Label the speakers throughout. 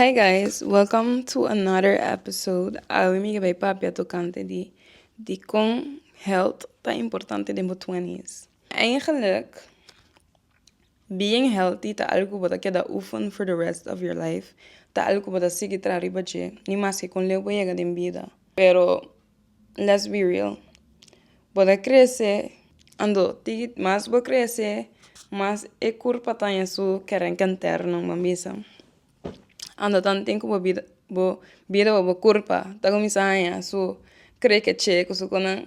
Speaker 1: Hi guys, welcome to another episode. Awe mi ga bay papia tocante di dicon health ta importante den bo twenties. Eigenlijk, being healthy ta algo bo ta keda oefen for the rest of your life. Ta algo bo ta sigui traha riba dje, ni maske con leu bo yega den bida. Pero let's be real bo ta crece ando tiki mas bo crece mas e curpa ta haña su kerenke interno bo misa ando tanti ku bo bida bo bida bo curpa ta cuminsa haña su creeque chë cosunan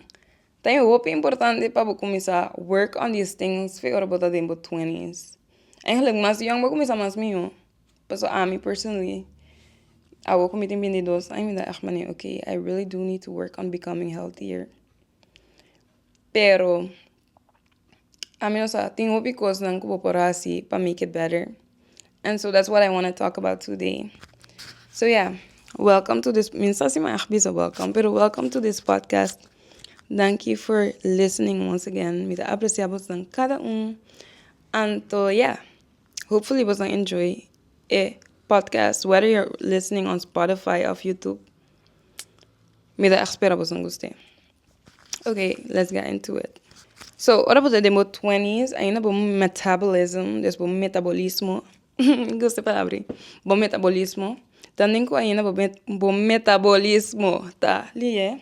Speaker 1: ta ña hopi importante pa bo cuminsa work on this things wer bo ta den bo twenties mas young bo cuminsa mas mijo. Paso ami personally awo ku mi tin binti dos aña mi ta ask mane ok I really do need to work on becoming healthier pero ami no sa tin hopi kosnan ku bo por hasi pa make it better and so that's what I wanna talk about today so yeah welcome to this mi sa si mi ask bisa welcome pero welcome to this podcast danki for listening once again mi ta aprecia bosnan kada un anto yeah. Hopefully boso enjoy e podcast whether you're listening on Spotify of YouTube mi ta echt spera boso guste okay let's get into it so ora bo ta den bo twenties ainda bo metabolism des bo metabolismo mi gusta e palabra i bo metabolismo ta den ku ainda bo metabolismo ta lihe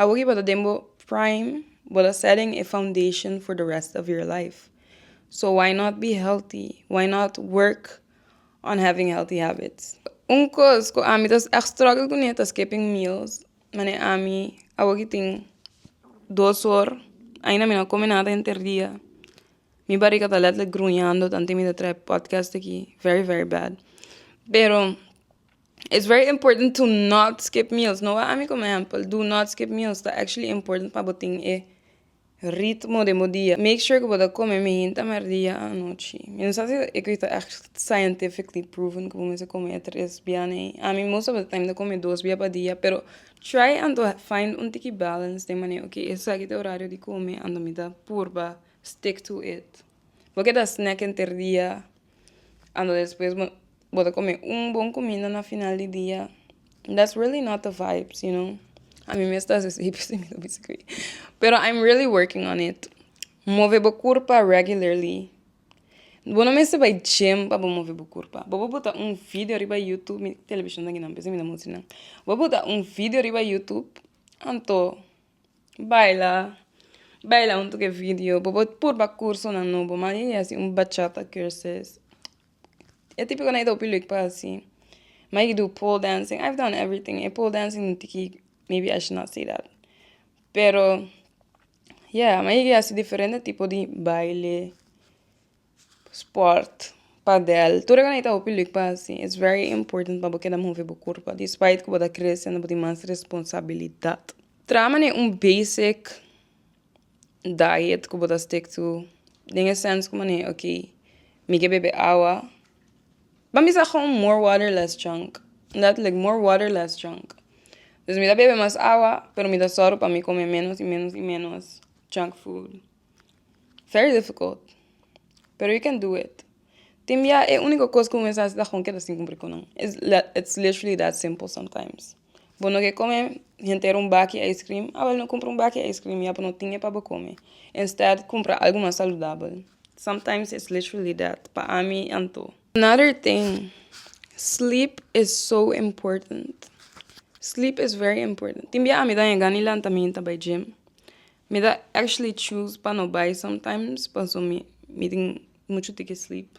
Speaker 1: Awor ki bo ta den bo prime, bo ta set in a foundation for the rest of your life. So why not be healthy? Why not work on having healthy habits? Un cos cu ami ta struggle cu ne ta skipping meals. Mane ami awor ki tin dos hor ain mi no a come nada henter dia. Mi bariga ta letterlijk gruñando tanto mi ta traha e podcast aki very very bad. Pero It's very important to not skip meals. No a ami como ehempel. Do not skip meals ta actually important pa bo tin e ritmo den bo dia. Make sure cu bo ta come mihinta merdia a anochi. Mi no sa si equi ta echt scientifically proven cu bo mester come e tres bia nee. Ami most of the time ta come e dos bia pa dia pero try and to find un tiki balance den manera ok esaki ta e horario di come and mi ta purba stick to it. Bo ke ta snack henter dia. ando despues bo bo ta come un bon comida na final di dia that's really not the vibes you know ami mes ta sesi pero I'm really working on it move bo curpa regularly bo no mester bay gym pa bo move bo curpa bobo bota un video riba youtube mi television ta gina p'esei mi ta musti nan bobo bota un video riba youtube anto. Baila, baila huntu ku e video, bo por purba kursonan nobo, man yeye hasi un bachata kurses, e tipikonan yeta hopi lek pa hasi, man yei ke du pol dancing, i have done everything, e pol dancing tin ki maybe i should not say that, pero ya man yei ke hasi diferente tipo di baile. Sport, padel, tur e kos na e ta hopi lek pa hasi, es very important pa bo keda move bo kurpa despite ku bo ta krese bo tin mas responsabilidat. Traha manera un basic diet ku bo ta stick to den e sens ku manera ok mi ke bebe awa pa mi sa gou more water less drunk dat lek more water less drunk dus mi ta bebe mas awa pero mi ta sòru pa mi kome menos y menos y menos junk food. Very difficult pero you can do it tin bia e unico cos cu un mens a hasi ta con keda sin cumpri cu nan it's literally that simple sometimes bo no ke come henter un baki ice cream a bueno cumpra un baki ice cream ya bo no tin e pa bo come instead cumpra algo mas saludabel sometimes it's literally that pa ami anto another tin sleep is so important sleep is very important tin bia ami ta yega ni lanta mi ta bay gym Mi ta actually choose pa no bai sometimes paso mi mi tin mucho tin ke sleep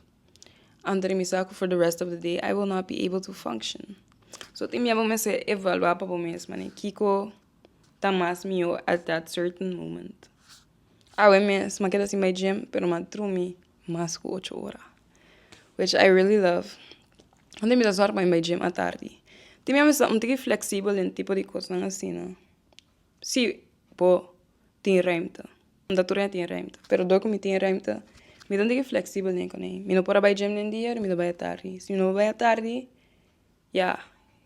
Speaker 1: anto di mi sa ku for the rest of the day I will not be able to function so tin mia bo mester evalua pa bo mes mane kiko ta mas mihó at that certain moment awe mes ma keda sin bai gym pero ma drumi mas ku ocho ora which I really love anto mi ta sòru pa mi bai gym atardi tin mia bo mester ta un tiki flexible den tipo di kosnan asina Si bo tin remte, no ta tur hende tin remte pero dor ku mi tin remte mi ta tigi fleksibel den kuné mi no por a bai gim den dia mi ta bai atardi si mi no bai atardi ya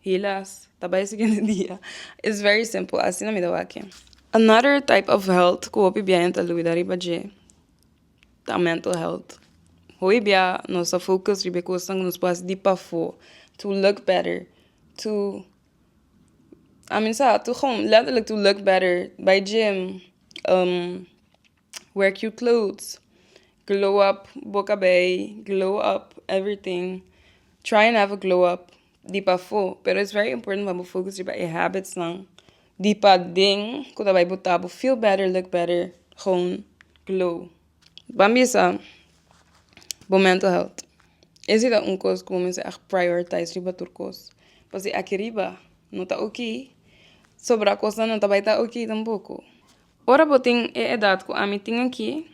Speaker 1: hilas ta bai siguiente dia is very simple asina mi ta wak another type of helt ku hopi bia hende ta lugda riba dje ta mental helt hopi bia nos ta focus riba e kosnan ku nos por hasi di pafó to look better to I mean sa to gewoon letterlijk to look better bay gym um wear cute clothes glow up bo cabei glow up everything try and have a glow up di pafo pero it's very important pa bo focus riba e habits nan di paden cu ta bay bota bo feel better look better gewoon glow. Bo a bisa bo mental health e si ta un kos ku bo mester a prioritize riba tur kos pa si aki riba no ta oki so bra kosnan no ta bai ta oki tampoco ora bo tin e edad ku ami tin aki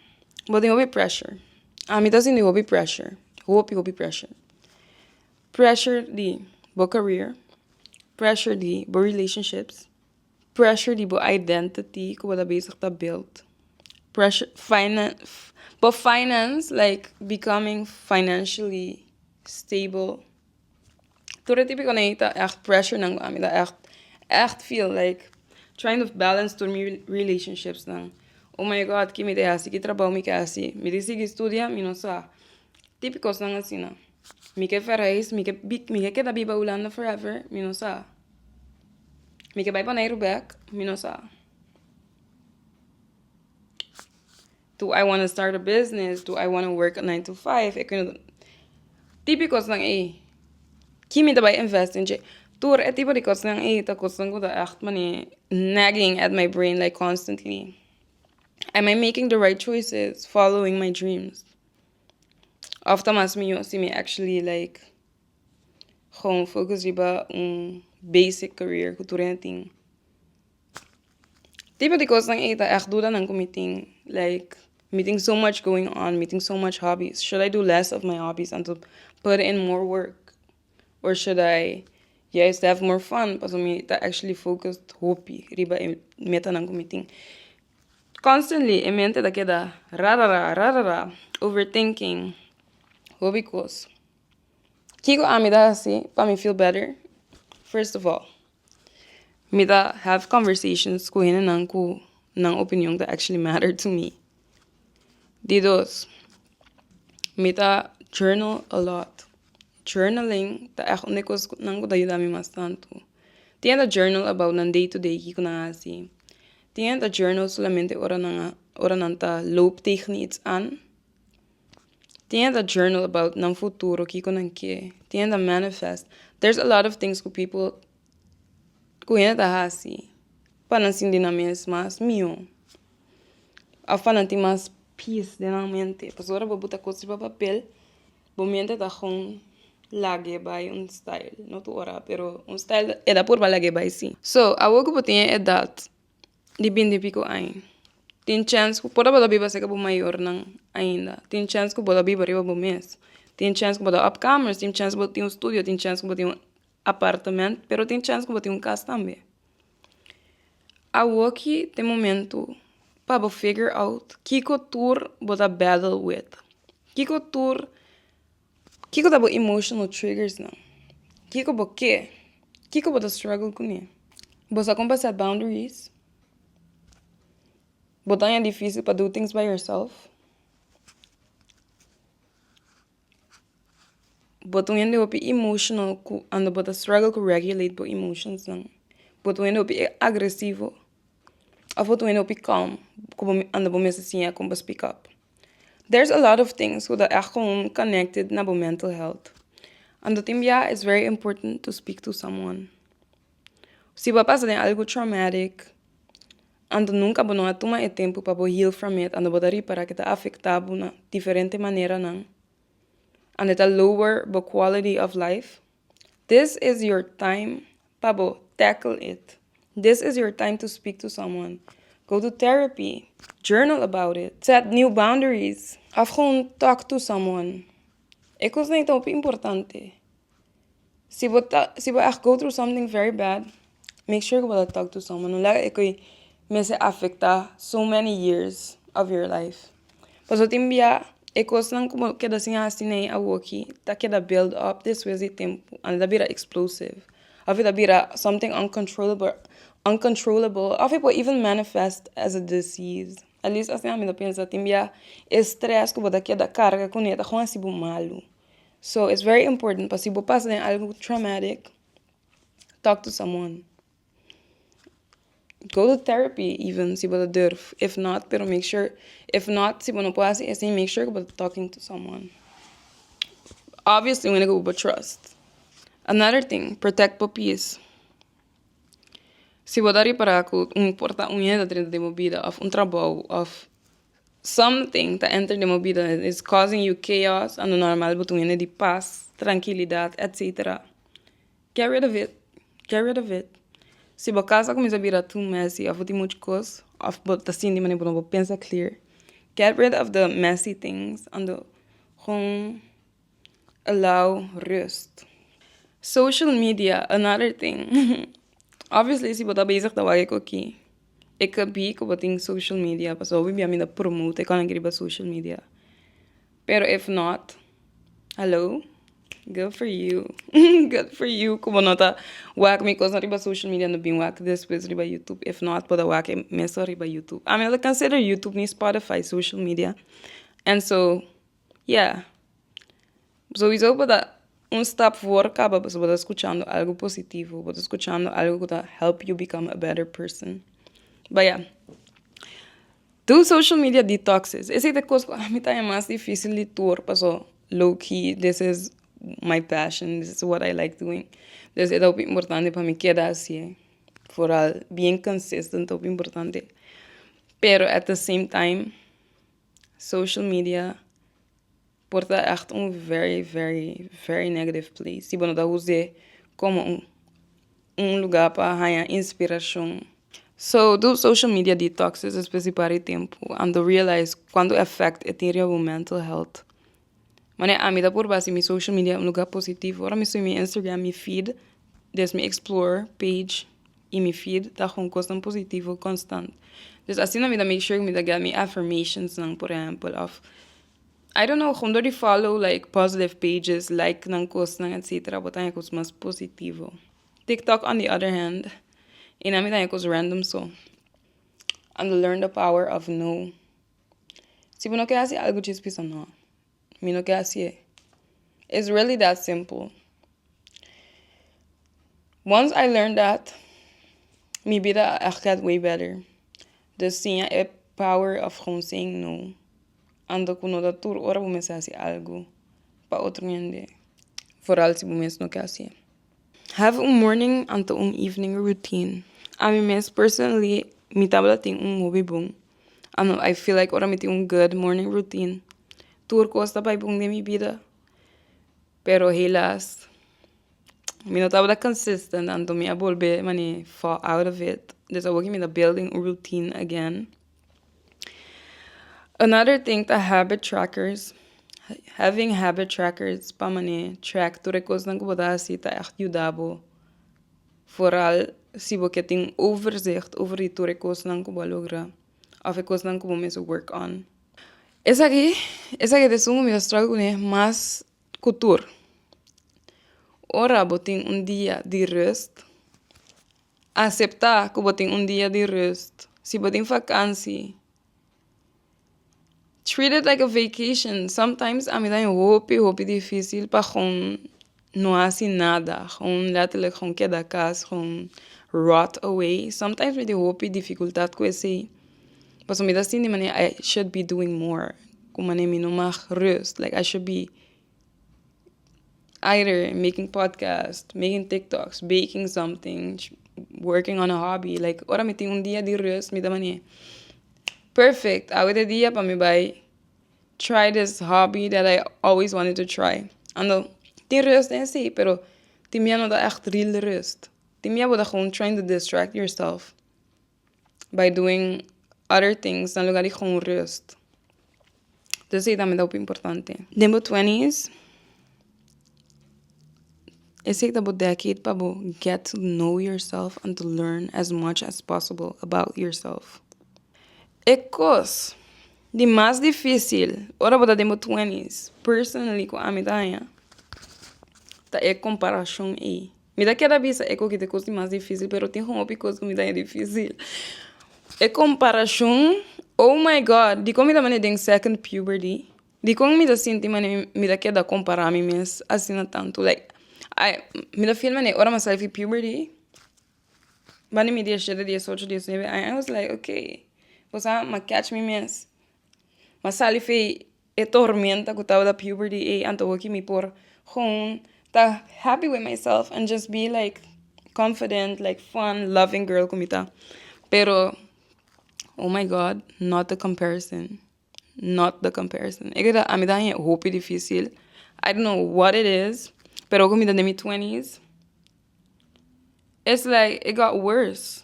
Speaker 1: bo tin hopi pressure ami ta sinti hopi pressure hopi hopi pressure pressure di bo career pressure di bo relationships Pressure di bo identity ku bo ta bezig ta build. Pressure bo finance like becoming financially stable. Tur e tipiko na ei ta ègt pressurenan ku ami ta ègt ègt feel like trying to balance tur mi relationshinan. Oh my god ke mi ta hasi? Ki trabou mi ke hasi? Mi ta sigui studia? Mi no sa. Tipikosnan asina. Mi ke verheis, mi ke bi mi ke keda biba Hulanda forever, mi no sa, mi ke bai Boneiru bek, mi no sa, do I wanna start a business, do I wanna work a nine to five, tipi kosnan ei, ki mi ta bai invest den dje, tur e tipo di kosnan ei ta kosnan ku ta ègt mane nagging at my brain like constantly, am I making the right choices following my dreams. Of ta mas mihó si mi actually like gewoon focus riba un basic career ku tur hende tin. Tipo di cosnan ei ta echt dudanan ku mi tin like mi tin so much going on mi tin so much hobbies should I do less of my hobbies and to put in more work or should I juist have more fun pasobra mi ta actually focus hopi riba e metanan ku mi tin. Constantly e mente ta keda rarara rarara overthinking hopi cos kiko ami ta hasi pa mi feel better first of all mi ta have conversations cu henenan cu nan opinion ta actually matter to me di dos mi ta journal alot journaling ta echt un dë cos nan cu ta yuda mi mas tantu tin ta journal about nan day to day kiko nan a hasi. Tin hende a journal solamente ora nan a ora nan ta loop tegen iets aan. Tin hende a journal about nan futuro kiko nan ke. Tin hende a manifest. There's a lot of things ku people ku hende ta hasi pa nan sinti nan mes mas mihó òf pa nan tin mas peace den nan mente pasobra bo bo ta koto su pa papel. Bo miente ta gon lag'e bai un style, no tur ora pero un style e ta por pa lag'e bai si. So awor ku bo tin e edat di binti piko aña tin chèns ku por ta bo ta biba serka bo mayornan ainda tin chèns ku bo ta biba riba bo mes tin chèns ku bo ta òpkamers tin chèns ku bo tin un studio tin chèns ku bo tin apartamento pero tin chance cu bo tin un cas tambe awoki ta e momento pa bo figure out kico tur bo ta battle with kico tur kico ta bo emotional triggers nan kico bo ker kico bo ta struggle cu ne bo sa con pa set boundaries bo ta haña dificil pa do things by yourself. Bo ta un hende hopi emotional ku ando bo ta struggle ku regulate bo emotionsnan. Bo ta un hende hopi agresivo of bo ta un hende hopi calm ku bo ando bo mester siña kon pa speak up. There is a lot of things ku ta èg komo connected na bo mental health. Ando tin biaha is very important to speak to someone. Si bo a pasa den algo traumatic anto nunca bo no a tuma e tempo pa bo heal from it anto bo ta ripara ke ta afecta bo na diferente maneranan and e ta lower bo quality of life this is your time pa bo tackle it this is your time to speak to someone go to therapy journal about it set new boundaries of gewoon talk to someone e cosnan e ta hopi importante. Si bo ta si bo echt go through something very bad make sure ku bo ta tok to someone no laga ke mester a afecta so many years of your life pasobra tin bia e cosnan ku bo keda sin haci nei awoki ta keda build up despues di tempo and ta bira explosive aver ta bira something uncontrollable uncontrollable of por even manifest as a disease at least asina mi ta pensa tin bia e stress ku bo ta keda carga kune ta hasi bo malo. So it's very important pa si bo pasa den algo traumatic, talk to someone. Go to therapy even si bo ta durf. If not, pero make sure, if not si bo no por hasi esei, make sure ku bo ta talking to someone. Obviously un hende ku bo por trust. Another thing, protect bo peace. Si bo ta ripara ku un por ta un hende ta drenta den bo bida of un trabou of. Something ta enter de mobida and is causing you chaos ando normal bo ta un hende di pas, trankilidad etc. Get rid of it, get rid of it. Si bo kas a kuminsá bira too messy of bo tin muchu kos of bo ta sinti bo no bo pensa clear get rid of the messy things ando gong. Allow rust. Social media another thing obviously si bo ta bezig ta wak cu ki e ka bi cu bo tin social media pasobra awe biamin ta promote e cona ke riba social media pero if not hallo good for you good for you cu bo no ta wak mi cosnan riba social media no bin wak despues riba YouTube if not bo ta wak mesun riba YouTube ami no ta consider YouTube ni Spotify social media and so. Ya sowiso bo ta un stap for kaba pasobra bo ta skuchando algu positivo bo ta skuchando algu ku ta help yu bikam e better person ba ya du social media detox esei ta e kos ku ami ta haya mas difisil di tur paso low key this is my passion this is what I like doing entonces e ta hopi importante pa mi keda asi'e foral bien consistent ta hopi importante pero at the same time. Social media por ta echt un very very very negative place si bo no ta uze como un un lugar pa haña inspiracion. So do social media detoxes espesie pari tempo and do realize cuanto effect e tin riba bo mental health. Manera ami ta purba si mi social media un lugar positivo ora mi sube mi Instagram mi feed des mi explore page y mi feed ta con cosnan positivo constant pues asina mi ta make sure mi ta get mi affirmationsnan por ehempel of I don't know con dor di follow like positive pages like nan cosnan etcetera bo ta haña cos mas positivo TikTok on the other hand e nan mi ta haña cos random so and learn the power of no. Si bo no ke hasi algu djis bisa no mi no ke hasi'e is really that simple once I learn that mi bida a get way better dus siña e power of gewoon saying no anto ku no ta tur ora bo mester hasi algu pa otro hende foral si bo mes no ke hasi'e. Have un morning anto un evening routine. Ami mes personally mi tabata tin un hopi bon. I know I feel like ora mi tin un good morning routine tur cos ta bay bon den mi bida pero helas mi no tabata consistent anto mi a bolbe mane fall out of it. Des a work mi ta building un routine again. Another thing ta habit trackers, having habit trackers pa manera track tur e cosnan cu bo ta hasi ta echt yuda bo foral si bo quier tin overzicht over di tur e cosnan cu bo a logra of e cosnan cu bo mes a work on. Esaki esaki ta esun cu mi ta struggle cu nan mas cu tur ora bo tin un dia di rust. Aseptá ku bo tin un dia di rust. Si bo tin vakansi, treat it like a vacation. Sometimes ami ta bin hopi hopi difísil pa gon no hasi nada, gon letterlijk gon keda kas, gon rot away. Sometimes mi tin hopi dificultad ku esei, pasobra mi ta sinti manera I should be doing more, ku manera mi no mag rust, like I should be. Either making podcast, making tiktoks, baking something, working on a hobby. Like, ora mi tin un dia di rust, mi ta manier, perfect, awe ta e dia pa mi bai try this hobby that I always wanted to try. Anto, tin rust den si, pero tin mia no ta ècht real rust. Tin mia bo ta gewoon trying to distract yourself. by doing other things na lugar di gewoon rust. Dus ei ta mi ta hopi importante. Den bo twenties, esei ta bo decade pa bo get to know yourself and to learn as much as possible about yourself. E kos di mas dificil ora bo ta den bo twenties, personally cu ami ta haña, ta e comparacion ei. Mi ta keda bisa e kogit e kos di mas difisil pero tin hopi kos ku mi daña difisil e komparashon oh my god dikon mi ta manera den second puberty dikon mi ta sinti manera mi ta keda kompara mi mes asina tantu like ai mi ta feel manera ora mi a sali fi puberty bani mi diecisiete diesocho diecinuebe aña I was like okay pasobra mi a catch mi mes Ma sali fei e tormenta ku tabata puberty ei antohou ki mi por gewoon ta happy with myself and just be like confident like fun loving girl ku mi ta pero oh my god not the comparison not the comparison e ke ta ami ta haña hopi difisil I don't know what it is pero oco mi ta den mi twenties it's like it got worse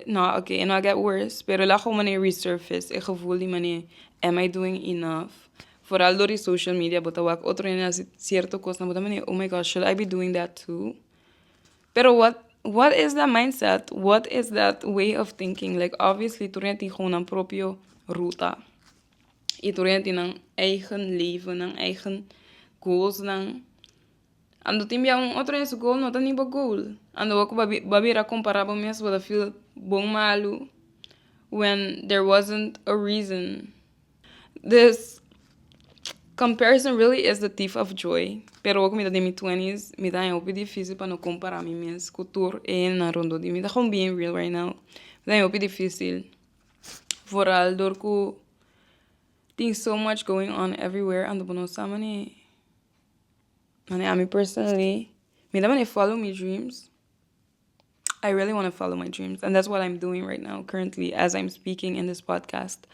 Speaker 1: No, oke, e no a get worse, pero el a gou manera resurface e gevoel di manera am I doing enough? Foral dor di social media bo ta wak otro hende hasi cierto cosnan, bo ta manera oh my god, should I be doing that too? Pero what what is that mindset? What is that way of thinking? Like obviously tur hende tin gou nan propio ruta y tur hende tin nan eigen levennan, eigen goalsnan. Ando tin bia un otro nes goal no ta ni bo goal ando bo ku bo a bira kompara bo mes bo ta feel bon malu when there wasn't a reason this comparison really is the thief of joy pero awo ku mi ta den mi twentys mi ta haña hopi difisil pa no kompara mi mes ku tur e hendenan rondó di mi ta gewoon being real right now mi ta haña hopi difisil vooral dor ku tin so much going on everywhere ando bo no sa manera. Mane ami personally mi ta mane follow mi dreams I really wanna follow my dreams and that's what I'm doing right now currently as I'm speaking in this podcast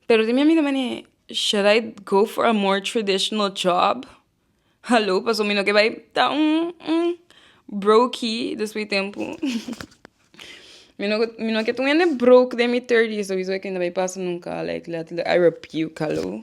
Speaker 1: pero di mi ami ta mane should I go for a more traditional job halo paso mi no ke bai ta un un broki despues tempo mi no mi no ke tun hende brok den mi thirties sowieso mi no ke bai pasa nunka like I rebuke halo.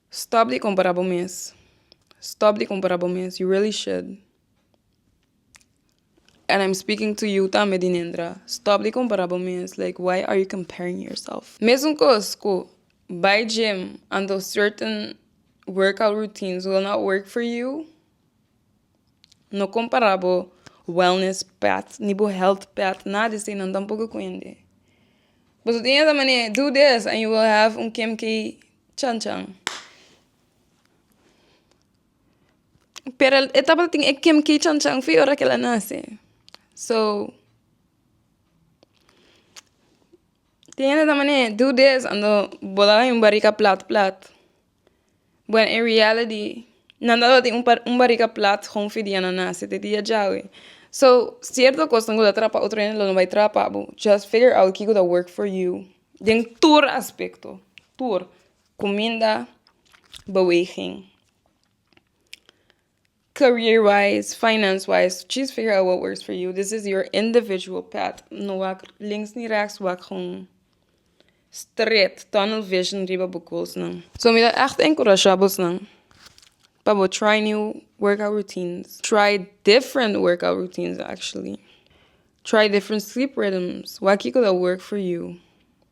Speaker 1: Stop di compara bo mes stop di compara bo mes you really should and I'm speaking to you tambe dinendra stop di compara bo mes like why are you comparing yourself mesun cos cu bay gym and those certain workout routines will not work for you. No compara bo wellness path ni bo health path nada esey nan tampoco cu hende. Boso tin esa mane do this and you will have un kemkey chan chan. Pero e tabata tin e kemkey chan chan fi ora kela nace so tin esa mane do this and bo ta haña un barica plat plat. Bueno en reality nan tabata tin un barika plat hounfi dia nan nase te dia djawe so cierto cos nan gusta trapa otro hende lo no bay trapa bo just figure out kico ta work for you den tur aspecto tur cuminda beweging. career wise, finance wise, choose figure out what works for you. This is your individual path. No wak links ni rechts, wak gewoon straight, tunnel vision riba bo goalsnan. So mi ta echt encouragea bosnan pa bo try new workout routines, try different workout routines actually, try different sleep rhythms, wak kiko ta work for you,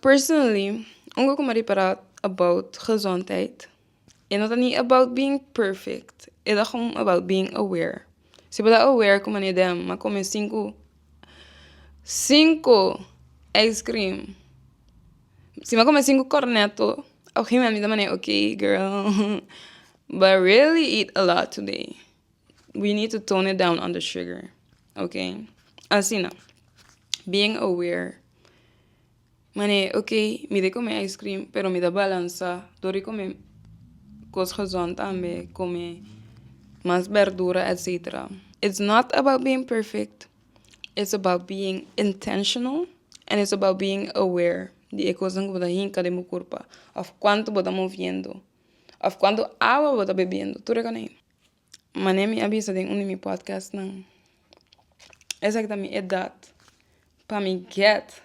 Speaker 1: Personally un go coma ripará about gezondheid e no ta ni about being perfect e ta gewoon about being aware si bo ta aware cu manera den a come cinco cinco ice cream si bo ta come cinco corneto a gegemoment mi ta mande ok girl but really eat a lot today we need to tone it down on the sugar ok asina being aware Mane, ok, mi dei come ice cream pero mi ta balansa dor di come cos gezond tambe, come mas berdura etcetera. It's not about being perfect, it's about being intentional and it's about being aware di e cosnan cu bo ta hinca den bo curpa of cuanto bo ta moviendo of cuanto awa bo ta bebiendo tur e cona ey. Mane mi a bisa den un di mi podcastnan, esaki ta mi edat pa mi get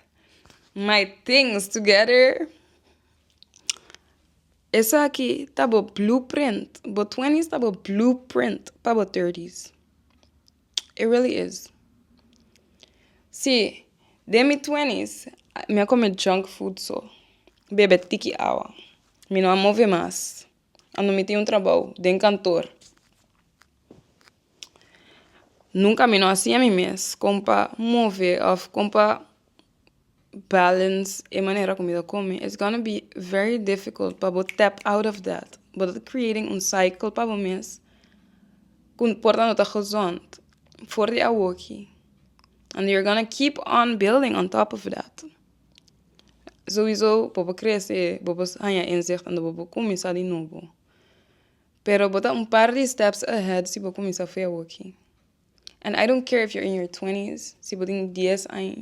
Speaker 1: my things together. Esaki ta bo blueprint, bo twentys ta bo blueprint pa bo thirtys, it really is. Si, den mi twentys mi a kome junk food so, bebe tiki awa, mi no a move mas. Ando mi tin un trabou den kantoor. Nunka mi no a siña mi mes kon pa move òf kon pa balance e manera ku mi ta kome. It's gonna be very difficult pa bo tap out of that. Bo ta creating un cycle pa bo mes ku por tando ta gezond for di awoki and you're gonna keep on building on top of that. Souiso bo por crece bo por haña inzicht unda bo por cuminsa di novo pero bo ta un par di steps ahead si bo cuminsa fe awokkie and I don't care if you're in your twentys si bo tin dies aña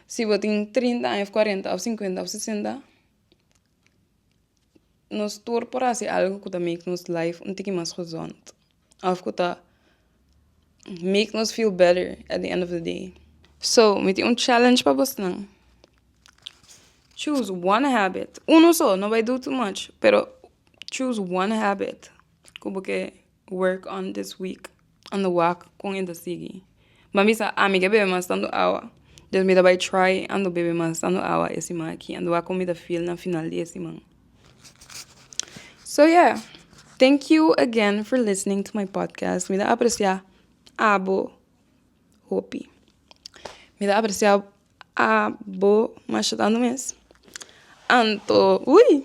Speaker 1: si bo tin trinta aña of cuarenta of cincuenta of sesenta nos tur por haci algo cu ta make nos life un tiki mas gezond. Of cu ta make nos feel better at the end of the day. So, mi tin un challenge pa bosnan. Choose one habit. Uno so, no bay do too much. Pero choose one habit cu bo ke work on this week. Anda wak con e ta sigui. M'a bisa ami ke bebe mas tantu awa den mi ta bai try ando bebe mas tantu awa e siman aki ando a kon mi ta feel na final di e siman so yeah thank you again for listening to my podcast mi ta aprecia abo hopi mi ta aprecia abo masha tantu mes anto ui